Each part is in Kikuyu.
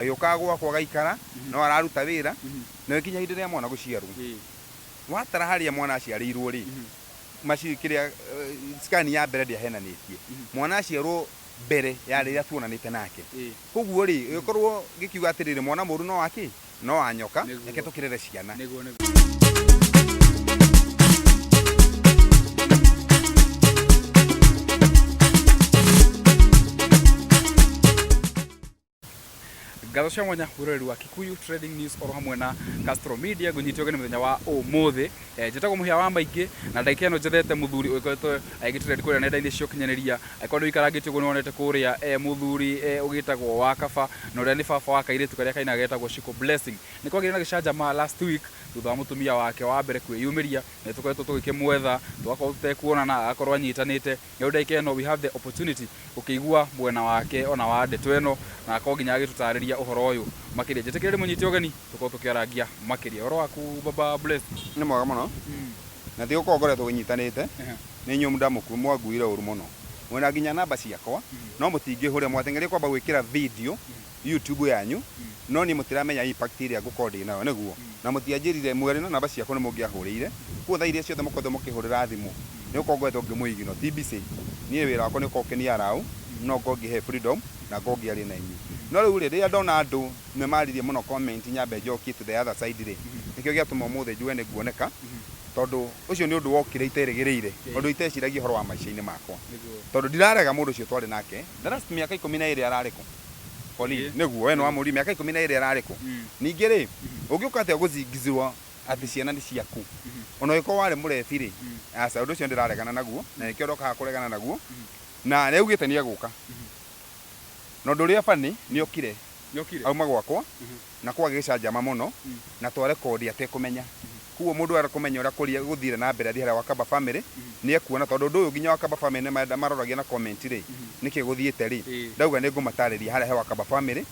Agĩũkaga gwakwa agaikara, no araruta wĩra, na gĩkinya hĩndĩ ĩrĩa mwana gũciarwo. Watara harĩa mwana aciarĩirwo rĩ, maci kĩrĩa eh, scan ya mbere ndĩahenanĩtie. Mwana aciarwo mbere ya rĩrĩa tuonanĩte nake. Koguo rĩ, ĩgĩkorwo gĩkiuga atĩrĩrĩ mwana mũru no wakĩ? No wa nyoka, Nĩguo. reke tũkĩrere ciana. Nĩguo nĩguo. Ngatho cia mwanya wĩroreri wa Kikuyu Trading News oro hamwe na Castro Media ngũnyitio gani mũthenya wa ũmũthĩ eh, njĩtagwo mũhĩa wa maingĩ na ndagĩka ĩno njethete mũthuri ũgĩkoretwo agĩgĩtrend kũrĩa nenda-inĩ cia ũkinyanĩria angĩkorwo nĩ ũikarangĩtio ũguo nĩ wonete kũrĩa eh, mũthuri eh, ũgĩtagwo wa kaba na ũrĩa nĩ baba wa kairĩtu karĩa kaina getagwo Shiko Blessing nĩ kwagĩire na gĩcanjama last week thutha wa mũtumia wake wa mbere kwĩyumĩria na nĩ tũkoretwo tũgĩkĩmwetha tũgakorwo tũtekuonana agakorwo anyitanĩte Rĩu ndagĩka ĩno we have the opportunity gũkĩigua mwena wake ona wa ndeto ĩno na akorwo nginya agĩtũtarĩria ũhoro ũyũ makĩria. Njĩtĩkĩria ndĩmũnyite ũgeni tũkorwo tũkĩarangia makĩria. Ũhoro waku baba Blessed? Nĩ mwega mũno, na ti gũkorwo ngoretwo ũnyitanĩte, nĩ inyuĩ mwanguire ũru mũno, mwĩna nginya namba ciakwa no mũtingĩhũrĩra, mwateng'eria kwamba gwĩkĩra video YouTube yanyu no niĩ mũtiramenya impact ĩrĩa ngũkorwo ndĩ nayo nĩguo? Na mũtianjĩrire mũrĩ na namba ciakwa nĩ mũngĩahũrĩire, kwoguo thaa iria ciothe mũkoretwo mũkĩhũrĩra thimũ nĩ gũkorwo ngoretwo ngĩ mũignore, ti busy. Niĩ wĩra wakwa nĩ gũkorwo ũkĩni allow no ngorwo ngĩhe freedom na ngorwo ngĩaria na inyuĩ. No rĩu rĩ, rĩrĩa ndona andũ memarĩirie mũno comment nyambe njokie to the other side rĩ, nĩkĩo gĩatũma ũmũthĩ njuge nĩ nguoneka tondũ ũcio nĩ ũndũ wokire iterĩgĩrĩire, ũndũ iteciragia ũhoro wa maica-inĩ makwa. Tondũ ndirarega mũndũ ũcio twarĩ nake. The last mĩaka ikũmi na ĩĩrĩ ararĩ kũ? Colleen, Ĩĩ. Nĩguo, we nĩwamũũririe mĩaka ikũmi na ĩĩrĩ ararĩ kũ? Mm. Ningĩ-rĩ, ũngĩũka atĩa gũcingizirwo atĩ ciana nĩ ciaku? O na ũngĩkorwo warĩ mũrebi-rĩ, aca, ũndũ ũcio ndĩraregana naguo, na nĩkĩo ndoka haha kũregana naguo. Na nĩaugĩte nĩegũka. Na ũndũ ũrĩa funny, nĩokire Nĩokire? auma gwakwa, na kwa gĩcanjama mũno na twa rekondi atekũmenya. Kwoguo mũndũ ũrenda kũmenya ũrĩa kũria gũthire na mbere athiĩ harĩa Wakamba Family nĩ ekuona tondũ ũndũ ũyũ nginya Wakamba Family nĩ maroragia na comment rĩ nĩkĩ gũthiĩte rĩ ndauga nĩ ngũmatarĩria harĩa he Wakamba Family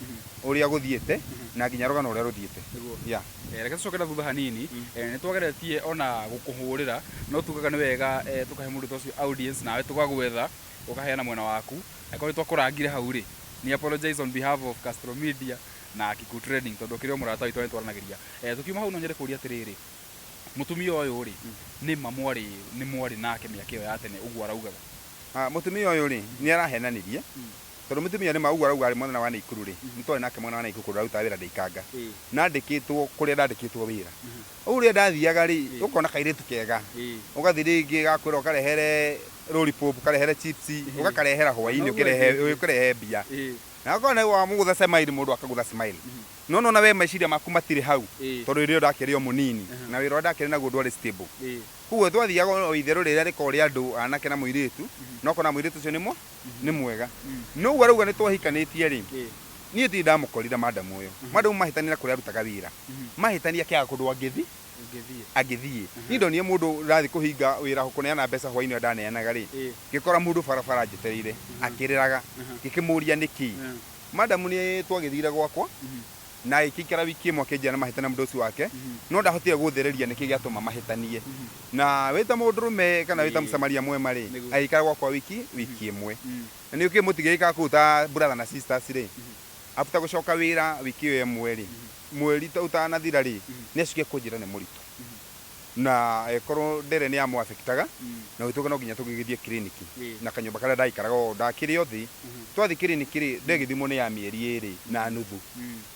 ũrĩa gũthiĩte na nginya rũgano rũrĩa rũthiĩte. Nĩguo. Yeah. Eh, Reke tũcoke na thutha hanini Eh, nĩ twageretie ona gũkũhũrĩra no tugaga nĩ wega eh, tũkahe mũndũ ta ũcio audience nawe tũgagwetha ũkaheana mwena waku angĩkorwo nĩ twakũrangire hau rĩ nĩ apologize on behalf of Castro Media na Akiku Trading tondũ ũkĩrĩ o mũrata witũ na nĩ twaranagĩria. Tũkiuma hau no nyende kũria atĩrĩrĩ, mũtumia ũyũ rĩ, nĩ ma mwarĩ nĩ mwarĩ nake mĩaka ĩyo ya tene ũguo araugaga? Mũtumia ũyũ rĩ, nĩ arahenanirie, tondũ mũtumia ũyũ nĩ ma ũguo arauga arĩ mwena wa Naikuru rĩ, nĩ twarĩ nake mwena wa Naikuru kũndũ ararutaga wĩra Ndĩikanga. Na andĩkĩtwo kũrĩa ndandĩkĩtwo wĩra. Rĩu rĩrĩa ndathiaga rĩ, ũkona kairĩtu kega, ũgathiĩ rĩngĩ gakwĩra ũkarehere Lollipop, ũkarehere chips, ũgakarehera hwaĩ-inĩ ũkĩrehe ũkĩrehe mbia. Na akorwo nĩ wa mũgũtha Semaili mũndũ akagũtha Semaili. No nĩwona we meciria maku matirĩ hau Ĩĩ. tondũ hĩndĩ ĩyo ndakĩrĩ o mũnini na wĩra ũrĩa ndakĩrĩ naguo ndwarĩ stable. Ĩĩ. Kwoguo twathiaga o o itherũ rĩrĩa rĩkoragwo rĩa andũ anake na mũirĩtu na ũkona mũirĩtu ũcio nĩ mũ, nĩ mwega. No ũguo arauga nĩ twahikanĩtie rĩ, Ĩĩ. niĩ ndirĩ ndamũkorire madam ũyũ. Madam mahĩtanire kũrĩa arutaga wĩra. Mahĩtania akĩaga kũndũ angĩthi. Ngĩthiĩ. Agĩthiĩ. Niĩ ndonire mũndũ ũrathiĩ kũhinga wĩra ho kũneana mbeca hwainĩ ũrĩa ndaneanaga-rĩ, Ĩĩ. ngĩkora mũndũ barabara anjetereire akĩrĩraga. Ngĩkĩmũria nĩkĩ. Ĩĩ. Madam nĩ twagĩthire gwakwa na agĩkĩikara wiki ĩmwe akĩnjĩra nĩ mahĩtania mũndũ ũcio wake, no ndahotire gũthereria nĩkĩ gĩatũma mahĩtanie. Na wĩ ta mũndũrũme kana wĩ ta Ĩĩ. Mũsamaria mwema-rĩ, Nĩguo. agĩikara gwakwa wiki, wiki ĩmwe. Na nĩ ũkĩũĩ mũtingĩgĩikara kũu ta brother na sisters-rĩ, after gũcoka wĩra wiki ĩyo ĩmwe-rĩ, Mweri ta ũtanathira rĩ, nĩ acuke kũnjĩra nĩ mũritũ. Na ĩkorwo ndere nĩ ya mũ affectaga, na ũgĩtuĩka no nginya tũgĩgĩthiĩ kiriniki. Na kanyũmba karĩa ndaikaraga o ndakĩrĩ o thĩ. Twathiĩ kiriniki rĩ, ndegĩthimwo nĩ ya mĩeri ĩrĩ na nuthu.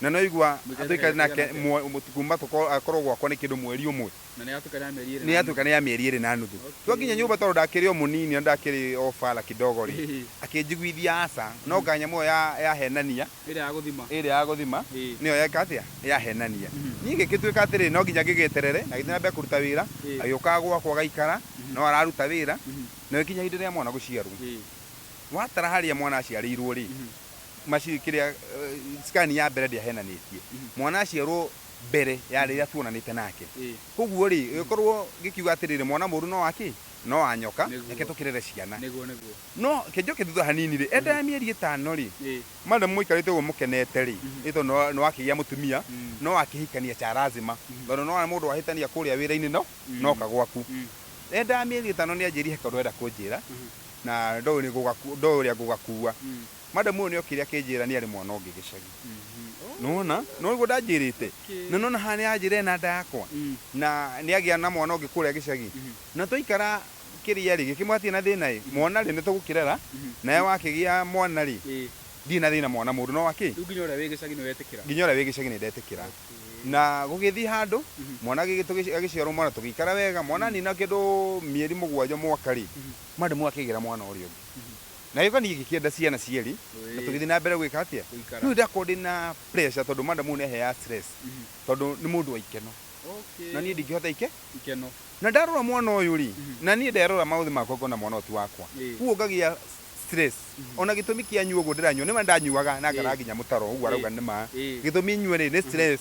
Na nĩ waigua tũikare nake kuma akorwo gwakwa nĩ kĩndũ mweri ũmwe. Na nĩ yatuĩka nĩ ya mĩeri ĩrĩ nĩ na yatuĩka nĩ ya mĩeri ĩrĩ na nuthu Okay. twakinya nyũmba tondũ ndakĩrĩ o mũnini na ndakĩrĩ o bara kidogo rĩ Ĩhĩ. akĩnjiguithia aca no nga nyamũ ĩyo ya- yahenania nuthu. Ĩrĩa ya gũthima. ĩrĩa ya gũthima Ĩĩ. nĩyo yeka atĩa yahenania Mhm. niĩ ngĩgĩtuĩka atĩrĩ no nginya ngĩgĩeterere na gĩthiĩ na mbere kũruta wĩra Ĩĩ. agĩũkaga gwakwa agaikara no araruta wĩra Mhm. no ĩkinya hĩndĩ ĩrĩa mwana gũciarwo Ĩĩ. watara harĩa mwana aciarĩirwo rĩ Mhm. maci kĩrĩa eh, scan ya mbere ndĩahenanĩtie Mhm. mwana aciarwo mbere ya rĩrĩa tuonanĩte nake. Kwoguo-rĩ, gĩkorwo gĩkiuga atĩrĩrĩ, mwana mũũru no wa kĩ? No wa nyoka, reke tũkĩrere ciana. No ke njoke thutha hanini-rĩ, enda ya mĩeri ĩtano-rĩ, madam mũikarĩte ũguo mũkenete-rĩ, nĩ tondũ nĩ wakĩgĩa mũtumia, no wakĩhikania cha lazima, tondũ nĩ wona mũndũ wahĩtania kũrĩa wĩra-inĩ no noka gwaku. Enda ya mĩeri ĩtano nĩ anjĩrire he kaũndũ arenda kũnjĩra, na ndoĩ ũrĩa ngũgakua. Madam ũyũ nĩokire akĩnjĩra nĩarĩ mwana ũngĩ gĩcagi. Nĩwona? Nĩwaigua ndanjĩrĩte? Na nĩwona haha nĩanjĩra ena nda yakwa, na nĩagĩa na mwana ũngĩ kũrĩa gĩcagi. Na twaikara kĩrĩa-rĩ, gĩkĩmwĩra hatirĩ na thĩna-ĩ, mwana-rĩ, nĩtũgũkĩrera, nawe wakĩgĩa mwana-rĩ, ndirĩ na thĩna mwana mũndũ no wa kĩ? Rĩu nginya ũrĩa wĩ gĩcagi nĩwetĩkĩra? Nginya ũrĩa wĩ gĩcagi nĩndetĩkĩra. Na gũgĩthiĩ handũ, mwana agĩgĩ, agĩciarwo mwana tũgĩikara wega, mwana anina kĩndũ mĩeri mũgwanja, mwaka-rĩ, madam ũyũ akĩgĩra mwana ũrĩa ũngĩ. na gĩũka niĩ ngĩkĩenda ciana cierĩ na tũgĩthiĩ na mbere gwĩka atĩa Gũikara. rĩu ndakorwo ndĩ na pressure tondũ madam ũyũ nĩ aheaga stress tondũ nĩ mũndũ wa ikeno Okay. na niĩ ndingĩhota ike Ikeno. na ndarora mwana ũyũ rĩ na niĩ nderora maũthĩ makwa ngona mwana ũyũ ti wakwa Ĩĩ. kuo ngagĩa stress ona gĩtũmi kĩa nyua ũguo ndĩranyua nĩma ndanyuaga na ngara Ĩĩ. nginya mũtaro ũguo arauga Ĩĩ. nĩma Ĩĩ. gĩtũmi nyue rĩ nĩ stress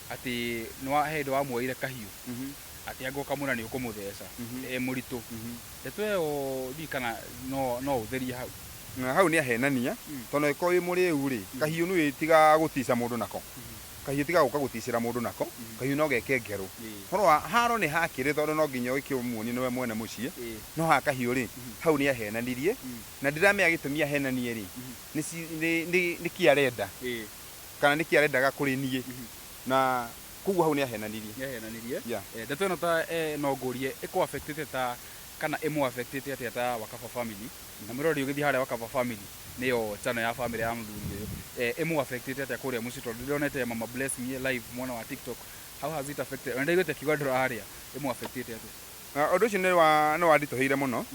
Atĩ nĩwa, he hĩndĩ wamuoeire kahiũ, atĩ angĩkorwo kamwĩra nĩ ũkũmũtheca, e mũritũ. Ndeto ĩyo ndiũĩ kana no, no ũtherie hau. Na hau nĩ ahenania, tondũ angĩkorwo wĩ mũrĩu rĩ, kahiũ nĩ ũĩ ti ga gũtica mũndũ nako. Kahiũ ti ga gũka gũticĩra mũndũ nako, kahiũ no geke ngerũ. Ũhoro wa, haro nĩ hakĩrĩ tondũ no nginya ũkĩmuonie nĩwe mwene mũciĩ, no ha kahiũ rĩ, hau nĩ ahenanirie, na ndiramenya gĩtũmi ahenanie rĩ, nĩ ci, nĩ, nĩ, nĩkĩ arenda. kana nĩkĩ arendaga kũrĩ niĩ na koguo hau nĩ ahenanirie nĩahenanirie Yeah. Eh, ndeto ĩno ta eh, no ngũrie ĩkũ affectĩte ta kana ĩmũ affectĩte atĩa ta wakaba family na mwĩroreri ũgĩthiĩ harĩa wakaba family nĩyo channel ya family ya mũthuri ũyũ eh, ĩmũ affectĩte atĩa kũrĩa mũciĩ tondũ ndĩronete mama bless me live mwana wa tiktok how has it affected ona ndaiguĩte kiuga ndũrarĩa ĩmũ affectĩte atĩa Na ũndũ ũcio nĩ wa- nĩ wanditũhĩire mũno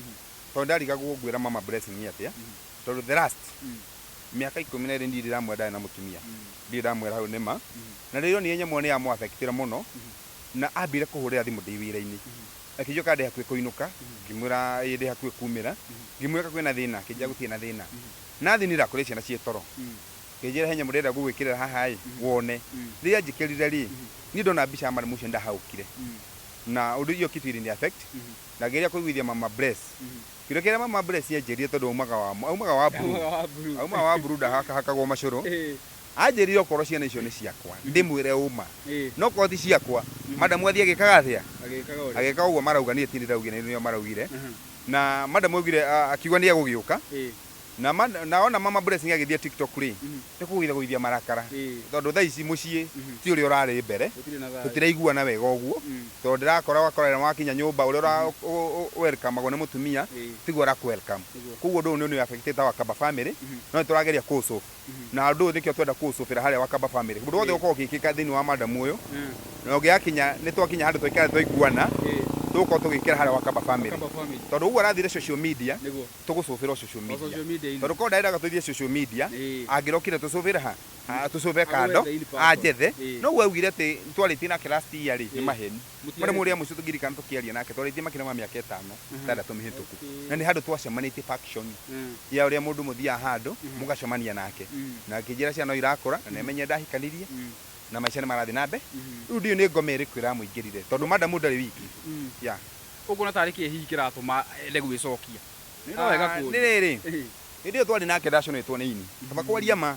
tondũ ndarigagwo ngwĩra mama blessing atĩa tondũ the last Mĩaka ikũmi na ĩrĩ ndirĩ ndamwĩra ndarĩ na mũtumia. Ndirĩ ndamwĩra hau nĩma. Na rĩrĩa onire nyamũ ĩyo nĩ ya mũ affectire mũno na ambire kũhũrĩra thimũ ndĩ wĩra-inĩ. Akĩnjoka ndĩ hakuhĩ kũinũka, ngĩmwĩra ĩĩ ndĩ hakuhĩ kumĩra. Ngĩmũria ka kwĩna thĩna, akĩnjĩra gũtirĩ na thĩna. Na athinĩra kũrĩa ciana ciĩ toro. Akĩnjĩra he nyamũ ndĩrenda gũgwĩkĩrĩra haha ĩ, wone. Rĩrĩa anjĩkĩrire rĩ, niĩ ndona mbica ya Madam ũcio nĩ ndahahũkire. Na ũndũ iyo kitu ilini affect na ngĩgeria kũiguithia mama Bless. Kĩndũ kĩrĩa mama Bless anjĩrire tondũ aumaga wa aumaga wa blue. Aumaga wa blue. Aumaga wa blue ndahakagwo macũrũ. Anjĩrire okorwo ciana icio nĩ ciakwa ndĩmwĩre ũma. Na okorwo ti ciakwa madam athiĩ agĩkaga atĩa? Agĩkaga ũrĩa. Agĩkaga ũguo marauga niĩ ti niĩ ndĩraugire nĩ o maraugire. Na madam augire akiuga nĩ egũgĩũka. Na ma, na ona mama blessing agĩthia tiktok rĩ nĩ kũgũitha gũithia marakara tondũ thaa ici mũciĩ ti ũrĩa ũrarĩ mbere tũtiraiguana wega ũguo tondũ ndĩrakora ũgakora wakinya nyũmba ũrĩa ũra welcomagwo nĩ mũtumia tiguo ũrakũ welcome kwoguo ũndũ ũyũ nĩ ũ affectĩte our kaba family no nĩ tũrageria kũ solve na ũndũ ũyũ nĩkĩo tũrenda kũ solve ĩra harĩa wakaba family ũndũ wothe ũkoragwo ũgĩkĩka thĩinĩ wa madam ũyũ na ũngĩgakinya nĩ twakinya handũ twaikare twaiguana tũgũkorwo tũgĩkĩra harĩa wakaba family tondũ ũguo arathire social media tũgũcũbĩra o social media. social media -inĩ. Tondũ korwo ndarendaga tũthiĩ social media, Ĩĩ. angĩrokire tũcũbĩre ha? Ha, tũcũbe Agwethe kando, ili person. anjethe. Ĩĩ. Noguo augire atĩ twarĩtie nake last year rĩ, nĩ Ĩĩ. maheni. Mũtiarĩtie. Mũrĩmo ũrĩa mũico tũngĩririkana tũkĩaria nake, twarĩtie makĩria ma mĩaka ĩtano, Mhm. ĩtandatũ mĩhĩtũku. Okay. Na nĩ handũ twacemanĩtie faction Mm. ya ũrĩa mũndũ mũthiaga handũ, Mhm. mũgacemania nake. Mm. Na akĩnjĩra ciana no irakũra, na nĩ amenye ndahikanirie, Mm. na maica nĩ marathiĩ na mbere. Mhm. Rĩu ndiũĩ nĩ ngoma ĩrĩkũ ĩramũingĩrire, tondũ madamu ndarĩ wiki. Mm. Yeah. Ũkuona ta arĩ kĩĩ hihi kĩratũma ende gwĩcokia? Nĩ ũndũ wega kũũria. Nĩ rĩrĩ, hĩndĩ ĩyo twarĩ nake ndaconeetwo nĩ ini, kaba kwaria ma,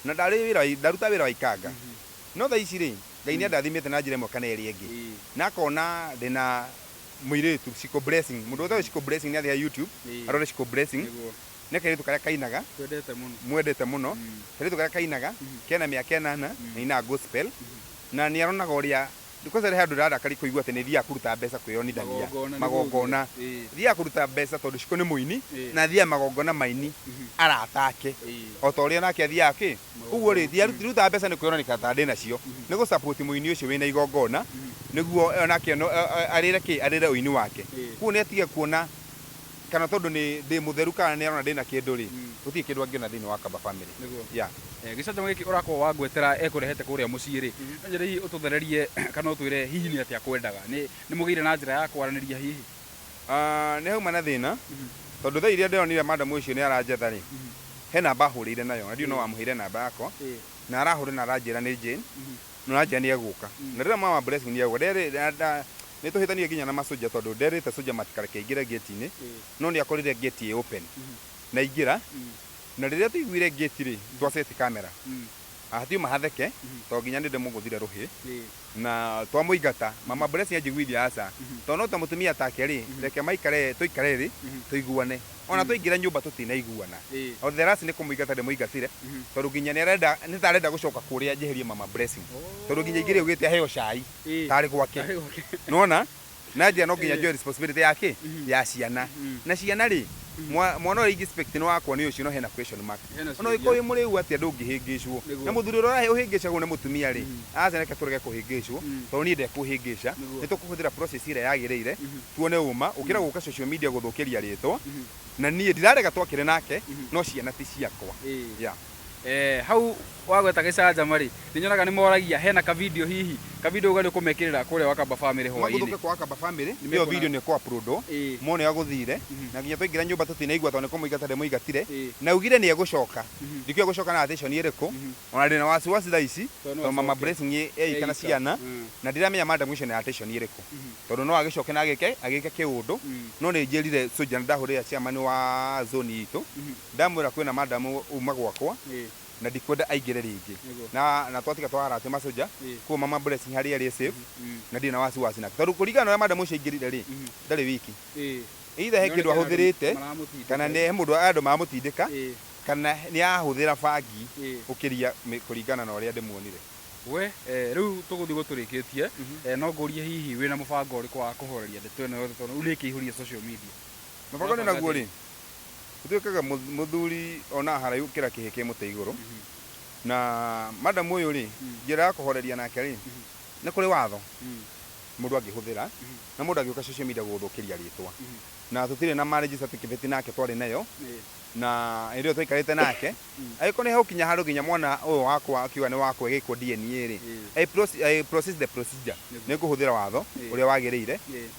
na ndarĩ wĩra wa, ndarutaga wĩra wa ikanga. No thaa ici-rĩ, Ngai nĩ andathimĩte na njĩra ĩmwe kana ĩrĩa ĩngĩ, na akona ndĩ na mũirĩtu, Shiko Blessing. Mũndũ wothe ũĩ Shiko Blessing nĩ athiĩ harĩ YouTube arore Shiko Blessing. Nĩ kairĩtu karĩa kainaga, mwendete mũno. Kairĩtu karĩa kainaga, kena mĩaka ĩnana, na ainaga Gospel. Na nĩ aronaga ũrĩa Ndũkerehe andũ arĩa arakari kũigua atĩ nĩ thiaga kũruta mbeca kwĩyonithania magongona. Thiaga kũruta mbeca tondũ Shiko nĩ mũini na athiaga magongona ma aini arata ake o ta ũrĩa nake athiaga kĩ. Kwoguo rĩ, ndirutaga mbeca nĩ kwĩyonania ta ndĩ nacio, nĩ gũ support mũini ũcio wĩna igongona nĩguo o nake arĩre kĩ, arĩre ũini wake. Kwoguo nĩ atige kuona... kana tondũ nĩ ndĩ mũtheru kana nĩ arona ndĩ na kĩndũ rĩ, gũtirĩ kĩndũ angĩona thĩinĩ wa Kaba Family. Nĩguo. Yeah. Eh, gĩcanjama gĩkĩ ũrakorwo wangwetera ekũrehete kũrĩa mũciĩ rĩ, no nyende hihi ũtũthererie kana ũtwĩre hihi nĩ atĩa akwendaga. Nĩ nĩ mũgĩire na njĩra ya kwaranĩria hihi? Ah, nĩ hauma na thĩna, tondũ thaa iria ndĩronire madam ũcio nĩ aranjetha rĩ, he namba ahũrĩire nayo, na ndiũĩ no Ĩĩ. wamũheire namba yakwa, Ĩĩ. na arahũra na aranjĩra nĩ Jane, No anjia nĩegũka. Na rĩrĩa mama Blessing nĩegũka. Nderĩ, na, na, nĩtũhĩtanire nginya na masoja tondũ nderĩte soja matikareke aingĩre gate-inĩ, no nĩakorire gate ĩ open. Na aingĩra, na rĩrĩa twaiguire gate-rĩ, twa set camera. Hatiuma hatheke, tondũ nginya nĩndĩmũgũthire rũhĩ. Na twamũingata, mama Blessing anjiguithia aca, tondũ no ta mũtumia take-rĩ, reke maikare, tũikare thĩ, tũiguane. ona twaingĩra nyũmba tũtinaiguana Ĩĩ. o the last nĩ kũmũingata ndĩmũingatire Mhm. tondũ nginya nĩ arenda nĩ ta arenda gũcoka kũrĩa njeherie mama blessing tondũ nginya ingĩrĩ ũgĩte aheo cai Ĩĩ. tarĩ gwake Tarĩ gwake. nona na njĩra no nginya njoe responsibility yake ya ciana na ciana rĩ mwa- mwana ũrĩa ingĩspect nĩ wakwa nĩ ũcio no hena question mark Hena Ona ciũria. ũngĩkorwo wĩ mũrĩu atĩa ndũngĩhĩngĩcwo. Nĩguo. Na mũthuri ũrĩa ũrahe ũhĩngĩcagwo nĩ mũtumia rĩ, aca reke tũreke kũhĩngĩcwo Mm. tondũ niĩ ndekũhĩngĩca. Nĩguo. Nĩ tũkũhũthĩra process ĩrĩa yagĩrĩire tuone ũma gũkĩra gũka social media gũthũkĩria rĩtwa. Na niĩ ndirarega twakĩre nake no ciana ti ciakwa. Ĩĩ. Yeah. Eh, hau wagweta gĩcanjama rĩ nĩ nyonaga nĩ moragia hena ka video hihi ka video ũga nĩ ũkũmekĩrĩra kũrĩa wakamba family hwainĩ maguthũke kwa kamba family Nĩ iyo mekũona- video nĩ kwa prudo Ĩĩ. mone ya gũthire na nginya twaingĩra nyũmba tũtinaigua tondũ nĩ kũmũigata ndĩmũigatire Ĩĩ. na augire nĩ egũcoka ndikĩũĩ egũcoka na attention ĩrĩkũ ona ndĩna wasiwasi thaa ici Tondũ no tondũ mama acoke. blessing ĩ ĩ ika na Eika. ciana Mm. na ndiramenya madam ũcio nĩ attention ĩrĩkũ tondũ no agĩcoke na agĩke agĩke kĩũndũ no nĩ njĩrire soja ndahũrĩra chairman wa zone itũ ndamwĩra kwĩna madam uma gwakwa Ĩĩ. na ndikwenda aingĩre rĩngĩ Nĩguo. na na twatiga twara atĩ masoja Ĩ. kuo mama blessing harĩa arĩ e safe Mm. na ndirĩ na wasiwasi nake tondũ kũringana na ũrĩa madam ũcio aingĩrire rĩ Mhm. ndarĩ wiki Ĩ. either he Nĩonekana kĩndũ andũ ahũthĩrĩte maramũtindĩka. kana nĩ he mũndũ andũ mamũtindĩka Ĩ. kana nĩ ahũthĩra bangi Ĩ. ũkĩria mĩ- kũringana na ũrĩa ndĩmuonire we eh, rĩu tũgũthiĩ gũtũrĩkĩtie Mhm. eh, no ngũrie hihi wĩna mũbango ũrĩkũ wa kũhoreria ndeto ĩno yothe tondũ rĩu nĩkĩihũrie social media mũbango nĩ Ũrabanga naguo atĩa? rĩ Gũtuĩkaga mũthuri onaga haraihu gũkĩra kĩhĩ kĩ mũtĩ igũrũ. Na madam ũyũ rĩ, njĩra ya kũhoreria nake rĩ, nĩ kũrĩ watho mũndũ angĩhũthĩra na mũndũ angĩũka social media gũgũthũkĩria rĩtwa. Na tũtirĩ na marriage certificate nake twarĩ nayo, na hĩndĩ ĩyo twaikarĩte nake, agĩkorwo nĩ hagũkinya handũ nginya mwana ũyũ wakwa akiuga nĩ wakwa ĩgĩkwo DNA rĩ, I proceed the procedure, nĩ ngũhũthĩra watho ũrĩa wagĩrĩire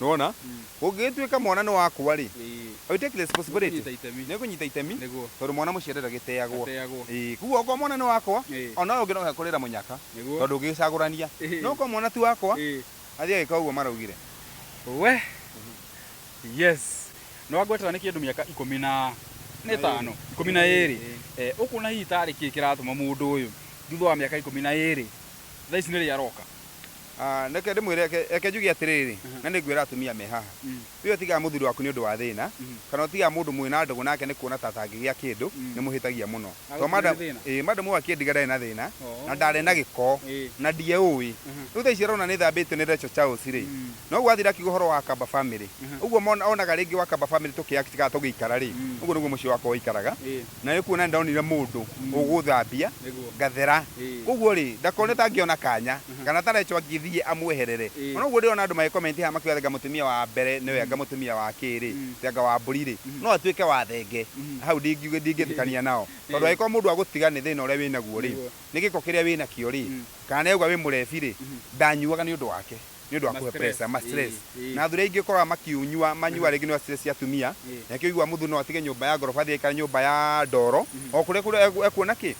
nĩwona ũngĩgĩtuĩka mwana nĩ wakwa rĩ Ĩĩ. I will take responsibility Nĩngũnyita itemi. nĩngũnyita itemi Nĩguo. tondũ mwana mũciare ndagĩteagwo Ndateagwo. Ĩĩ, koguo okorwo mwana nĩ wakwa Ĩĩ. ona ũyũ ũngĩ no ekũrĩra mũnyaka Nĩguo. tondũ ndũngĩgĩcagũrania Ĩĩ. no okorwo mwana ti wakwa Ĩĩ. athiĩ agĩka ũguo maraugire We. Yes. Nĩ wangwetera nĩ kĩndũ mĩaka ikũmi na na ĩtano, ikũmi na ĩrĩ. Eh, ũkuona hihi tarĩ kĩĩ kĩratũma mũndũ ũyũ thutha wa mĩaka ikũmi na ĩrĩ thaa ici nĩrĩ aroka? Ah, reke ndĩmwĩre, reke reke njuge atĩrĩrĩ, Aha. na nĩngwĩra atumia me haha, Mm. wee ũtigaga mũthuri waku nĩ ũndũ wa thĩna, Mhm. kana ũtigaga mũndũ mwĩ na ndũgũ nake nĩ kuona ta atangĩgĩa kĩndũ, Mm. nĩ mũhĩtagia mũno. Agũkĩrĩ Tondũ madam- thĩna? ĩĩ, madam ũyũ akĩndiga ndarĩ na thĩna, Oh. na ndarĩ na gĩko, Ĩĩ. na ndieũĩ. Aha. Rĩu thaa ici arona nĩ thambĩtio nĩ Rachel Charles rĩ, Mm. noguo athire akiuga ũhoro wa Akamba family. Aha. Ũguo mona- onaga rĩngĩ wa Akamba family tũkĩ act kana tũgĩikara rĩ, Mm. ũguo nĩguo mũciĩ wakwa waikaraga, Ĩĩ. na nĩ kuona nĩ ndonire mũndũ Mm. ũgũthambia, Nĩguo. ngathera. Ĩĩ. Koguo rĩ, ndakone ta angĩona kanya. kana ta Rachel angĩthiĩ amweherere. Ona ũguo ndĩrona andũ magĩ comment haha makiuga anga mũtumia wa mbere nĩwe anga mũtumia wa kĩrĩ, atĩ anga Wambũri rĩ no atuĩke wa thenge. Na hau ndingĩtĩkania nao. Tondũ angĩkorwo mũndũ agũtiga nĩ thĩna ũrĩa wĩ naguo rĩ, nĩ gĩko kĩrĩa wĩ nakĩo rĩ, kana nĩ auga wĩ mũrebi rĩ, ndanyuaga nĩ ũndũ wake, nĩ ũndũ wa kũhe pressure, ma stress. Na athuri aingĩ ũkoraga makĩnyua manyuaga rĩngĩ nĩ ũndũ wa stress cia atumia. Na nĩkĩo ũiguaga mũthuri no atige nyũmba ya ngoroba athiĩ aikare nyũmba ya ndoro, o kũrĩa ekuona kĩ?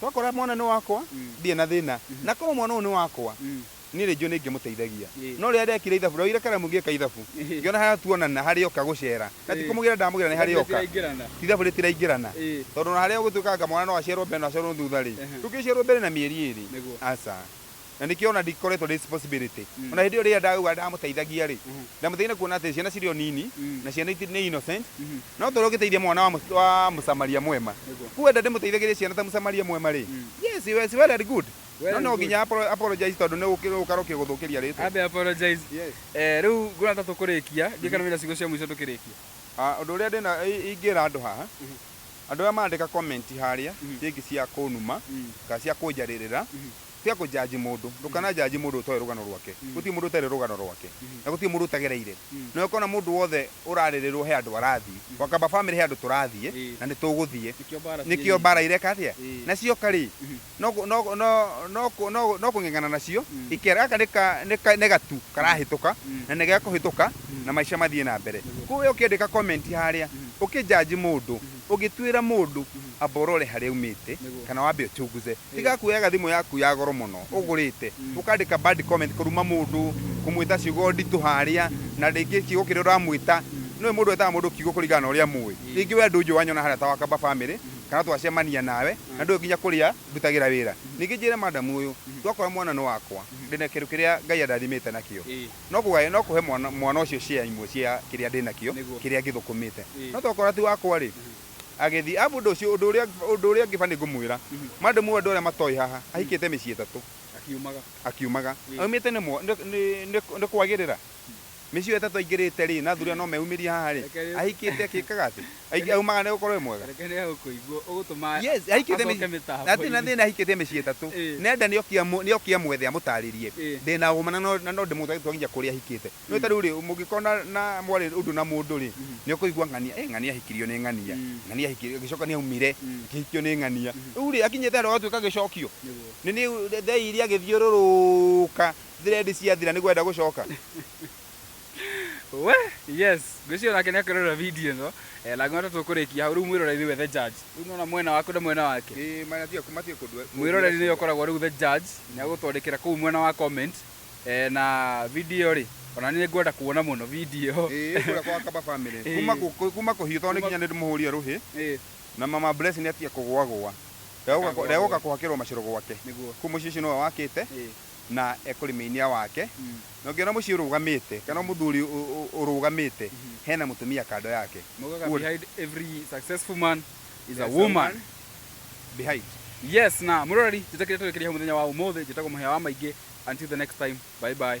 Twakora mwana nĩ wakwa, ndirĩ na thĩna. Na korwo mwana ũyũ nĩ wakwa, niĩ rĩngĩ ũyũ nĩingĩmũteithagia. No rĩrĩa ndekire ithabu, ndoire karamu ngĩka ithabu, ngĩona harĩa tuonana harĩ oka gũcera, na ti kũmũgĩra ndamũgĩra nĩ harĩ oka, ti ithabu rĩtiraingĩrana. Tondũ ona harĩa ũgĩtuĩka anga mwana no aciarwo mbere na aciarwo thutha-rĩ, ndũngĩciarwo mbere na mĩeri ĩrĩ, aca. na nĩkĩo ona ndikoretwo ndĩ responsibility mm. ona hĩndĩ ĩyo rĩrĩa ndauga ndamũteithagia rĩ mm -hmm. ndamũteithia na kuona atĩ ciana cirĩ o nini mm. na ciana nĩ innocent mm -hmm. no tondũ ũgĩteithia mwana wa, wa mũsamaria mwema kuenda ndĩmũteithagĩria ciana ta mũsamaria mwema rĩ mm. yes yes well and good no no nginya apologize tondũ nĩ ũkara ũkĩgũthũkĩria rĩtwa ambe apologize yes eh rĩu ngũra ta tũkũrĩkia ngĩkana wĩra cigo cia mũico tũkĩrĩkia ah, ũndũ ũrĩa ndĩna ingĩra andũ haha mm-hmm. Andũ arĩa marandĩka comment harĩa rĩngĩ cia kũnuma kana cia kũnjarĩrĩra, tiga kũ judge mũndũ, ndũkana judge mũndũ ũtoĩ rũgano rwake. Gũtirĩ mũndũ ũtarĩ rũgano rwake, na gũtirĩ mũndũ ũtagereire. Na ũngĩkona mũndũ wothe ũrarĩrĩrwo he handũ arathiĩ, wakamba family he handũ tũrathiĩ na nĩtũgũthiĩ. Nĩkĩo mbara ireka atĩa? Na cioka rĩ, no kũ- no kũ- no no kũ- no kũ- no kũng'eng'ana nacio Mm. ikera gaka nĩ ka- nĩ ka- nĩ gatu karahĩtũka Mm. na nĩ gĩa kũhĩtũka Mm. na maica mathiĩ na mbere Nĩguo. kũu we ũkĩandĩka comment harĩa Mm. ũkĩjaji mũndũ ũgĩtuĩra mũndũ amba ũrore harĩa umĩte Nĩguo. kana wambe ũchunguze tiga kuoyaga thimũ yaku ya goro mũno ũgũrĩte Mm. ũkandĩka bad comment kũruma mũndũ kũmwĩta ciugo nditũ harĩa na rĩngĩ kiugo kĩrĩa ũramwĩta nĩwe mũndũ etaga mũndũ kiugo kũringana na ũrĩa mũĩ Ĩ. rĩngĩ we ndũnjũ wanyona harĩa ta wakamba family kana twacemania nawe na ndũĩ nginya kũrĩa ndutagĩra wĩra, ningĩ njĩre madam ũyũ, ndwakora mwana nĩ wakwa, ndĩ na kĩndũ kĩrĩa Ngai andathimĩte nakĩo, no kũgaya no kũhe mwana ũcio share imwe cia kĩrĩa ndĩ nakĩo, kĩrĩa ngĩthũkũmĩte, no twakora ti wakwa rĩ, agĩthiĩ, arabu ũndũ ũcio, ũndũ ũrĩa, ũndũ ũrĩa ũngĩ baniĩ ngũmwĩra, madam ũyũ andũ arĩa matoĩ haha, ahikĩte mĩciĩ ĩtatũ, akiumaga, akiumaga, aumĩte nĩ, nĩ, nĩ kwagĩrĩra? Mĩciĩ ĩyo ĩtatũ aingĩrĩte rĩ, na athuri aya no meyumĩrie haha rĩ, ahikĩte akĩkaga atĩ, aingĩ- aumaga nĩ gũkorwo e mwega? Reke nĩ egũkũigua ũgũtũma Yes, ahikĩte acoke mĩciĩ, mĩtambo-inĩ. hatirĩ na thĩna ahikĩte mĩciĩ ĩtatũ, Ĩ. nenda nĩ oke amũ- nĩ oke amwethe amũtarĩrie, Ĩ. ndĩ na ũma na no- na no ndĩmũtware tũtware nginya kũrĩa ahikĩte. Nĩ ũĩ ta rĩu rĩ, mũngĩkorwo na- na mwarĩ ũndũ na mũndũ rĩ, nĩ ũkũigua ng'ania, "Ĩ, ng'ania ahikirio nĩ ng'ania, Mm. ng'ania ahikirio, agĩcoka nĩ aumire, Mm. akĩhikio nĩ ng'ania." Rĩu rĩ, akinyĩte handũ agatuĩka gĩcokio, Nĩguo. nĩ nĩ thei iria agĩthiũrũrũka thread ciathira niguo enda gucoka we yes ngwĩciria nake nĩ akĩrora video ĩno eh, na ngona tũkũrĩkia hau rĩu mwĩroreri nĩwe the judge rĩu nona mwena waku na mwena wake ĩ mana tiga kuma tiga kundwe mwĩroreri nĩwe ũkoragwo rĩu the judge nĩ agũtwandĩkĩra kũu mwena wa comment eh, na video rĩ ona nĩ ngwenda kuona mũno video ĩ kura kwa kaba family Ĩ. kuma ku- kuma kuhiu tondũ nĩ kinya nĩ ndĩmũhũria ruhi Eh, na mama bless nĩ atiga kũgwa gwa Ndagũka- Ndakagwa ndagũka gwa. kuhakĩrwo macoro gwake nĩguo kuu mũciĩ ũcio nĩwe wakĩte Eh, na ekũrĩmĩinia wake na ũngĩona mũciĩ ũrũgamĩte kana mũthuri ũrũgamĩte hena mũtumia kando yake behind every successful man is a woman behind yes na mũrorari njĩtakĩrĩa tũrĩkĩria mũthenya wa ũmũthĩ njĩtagwo mũhĩa wa maingĩ until the next time bye bye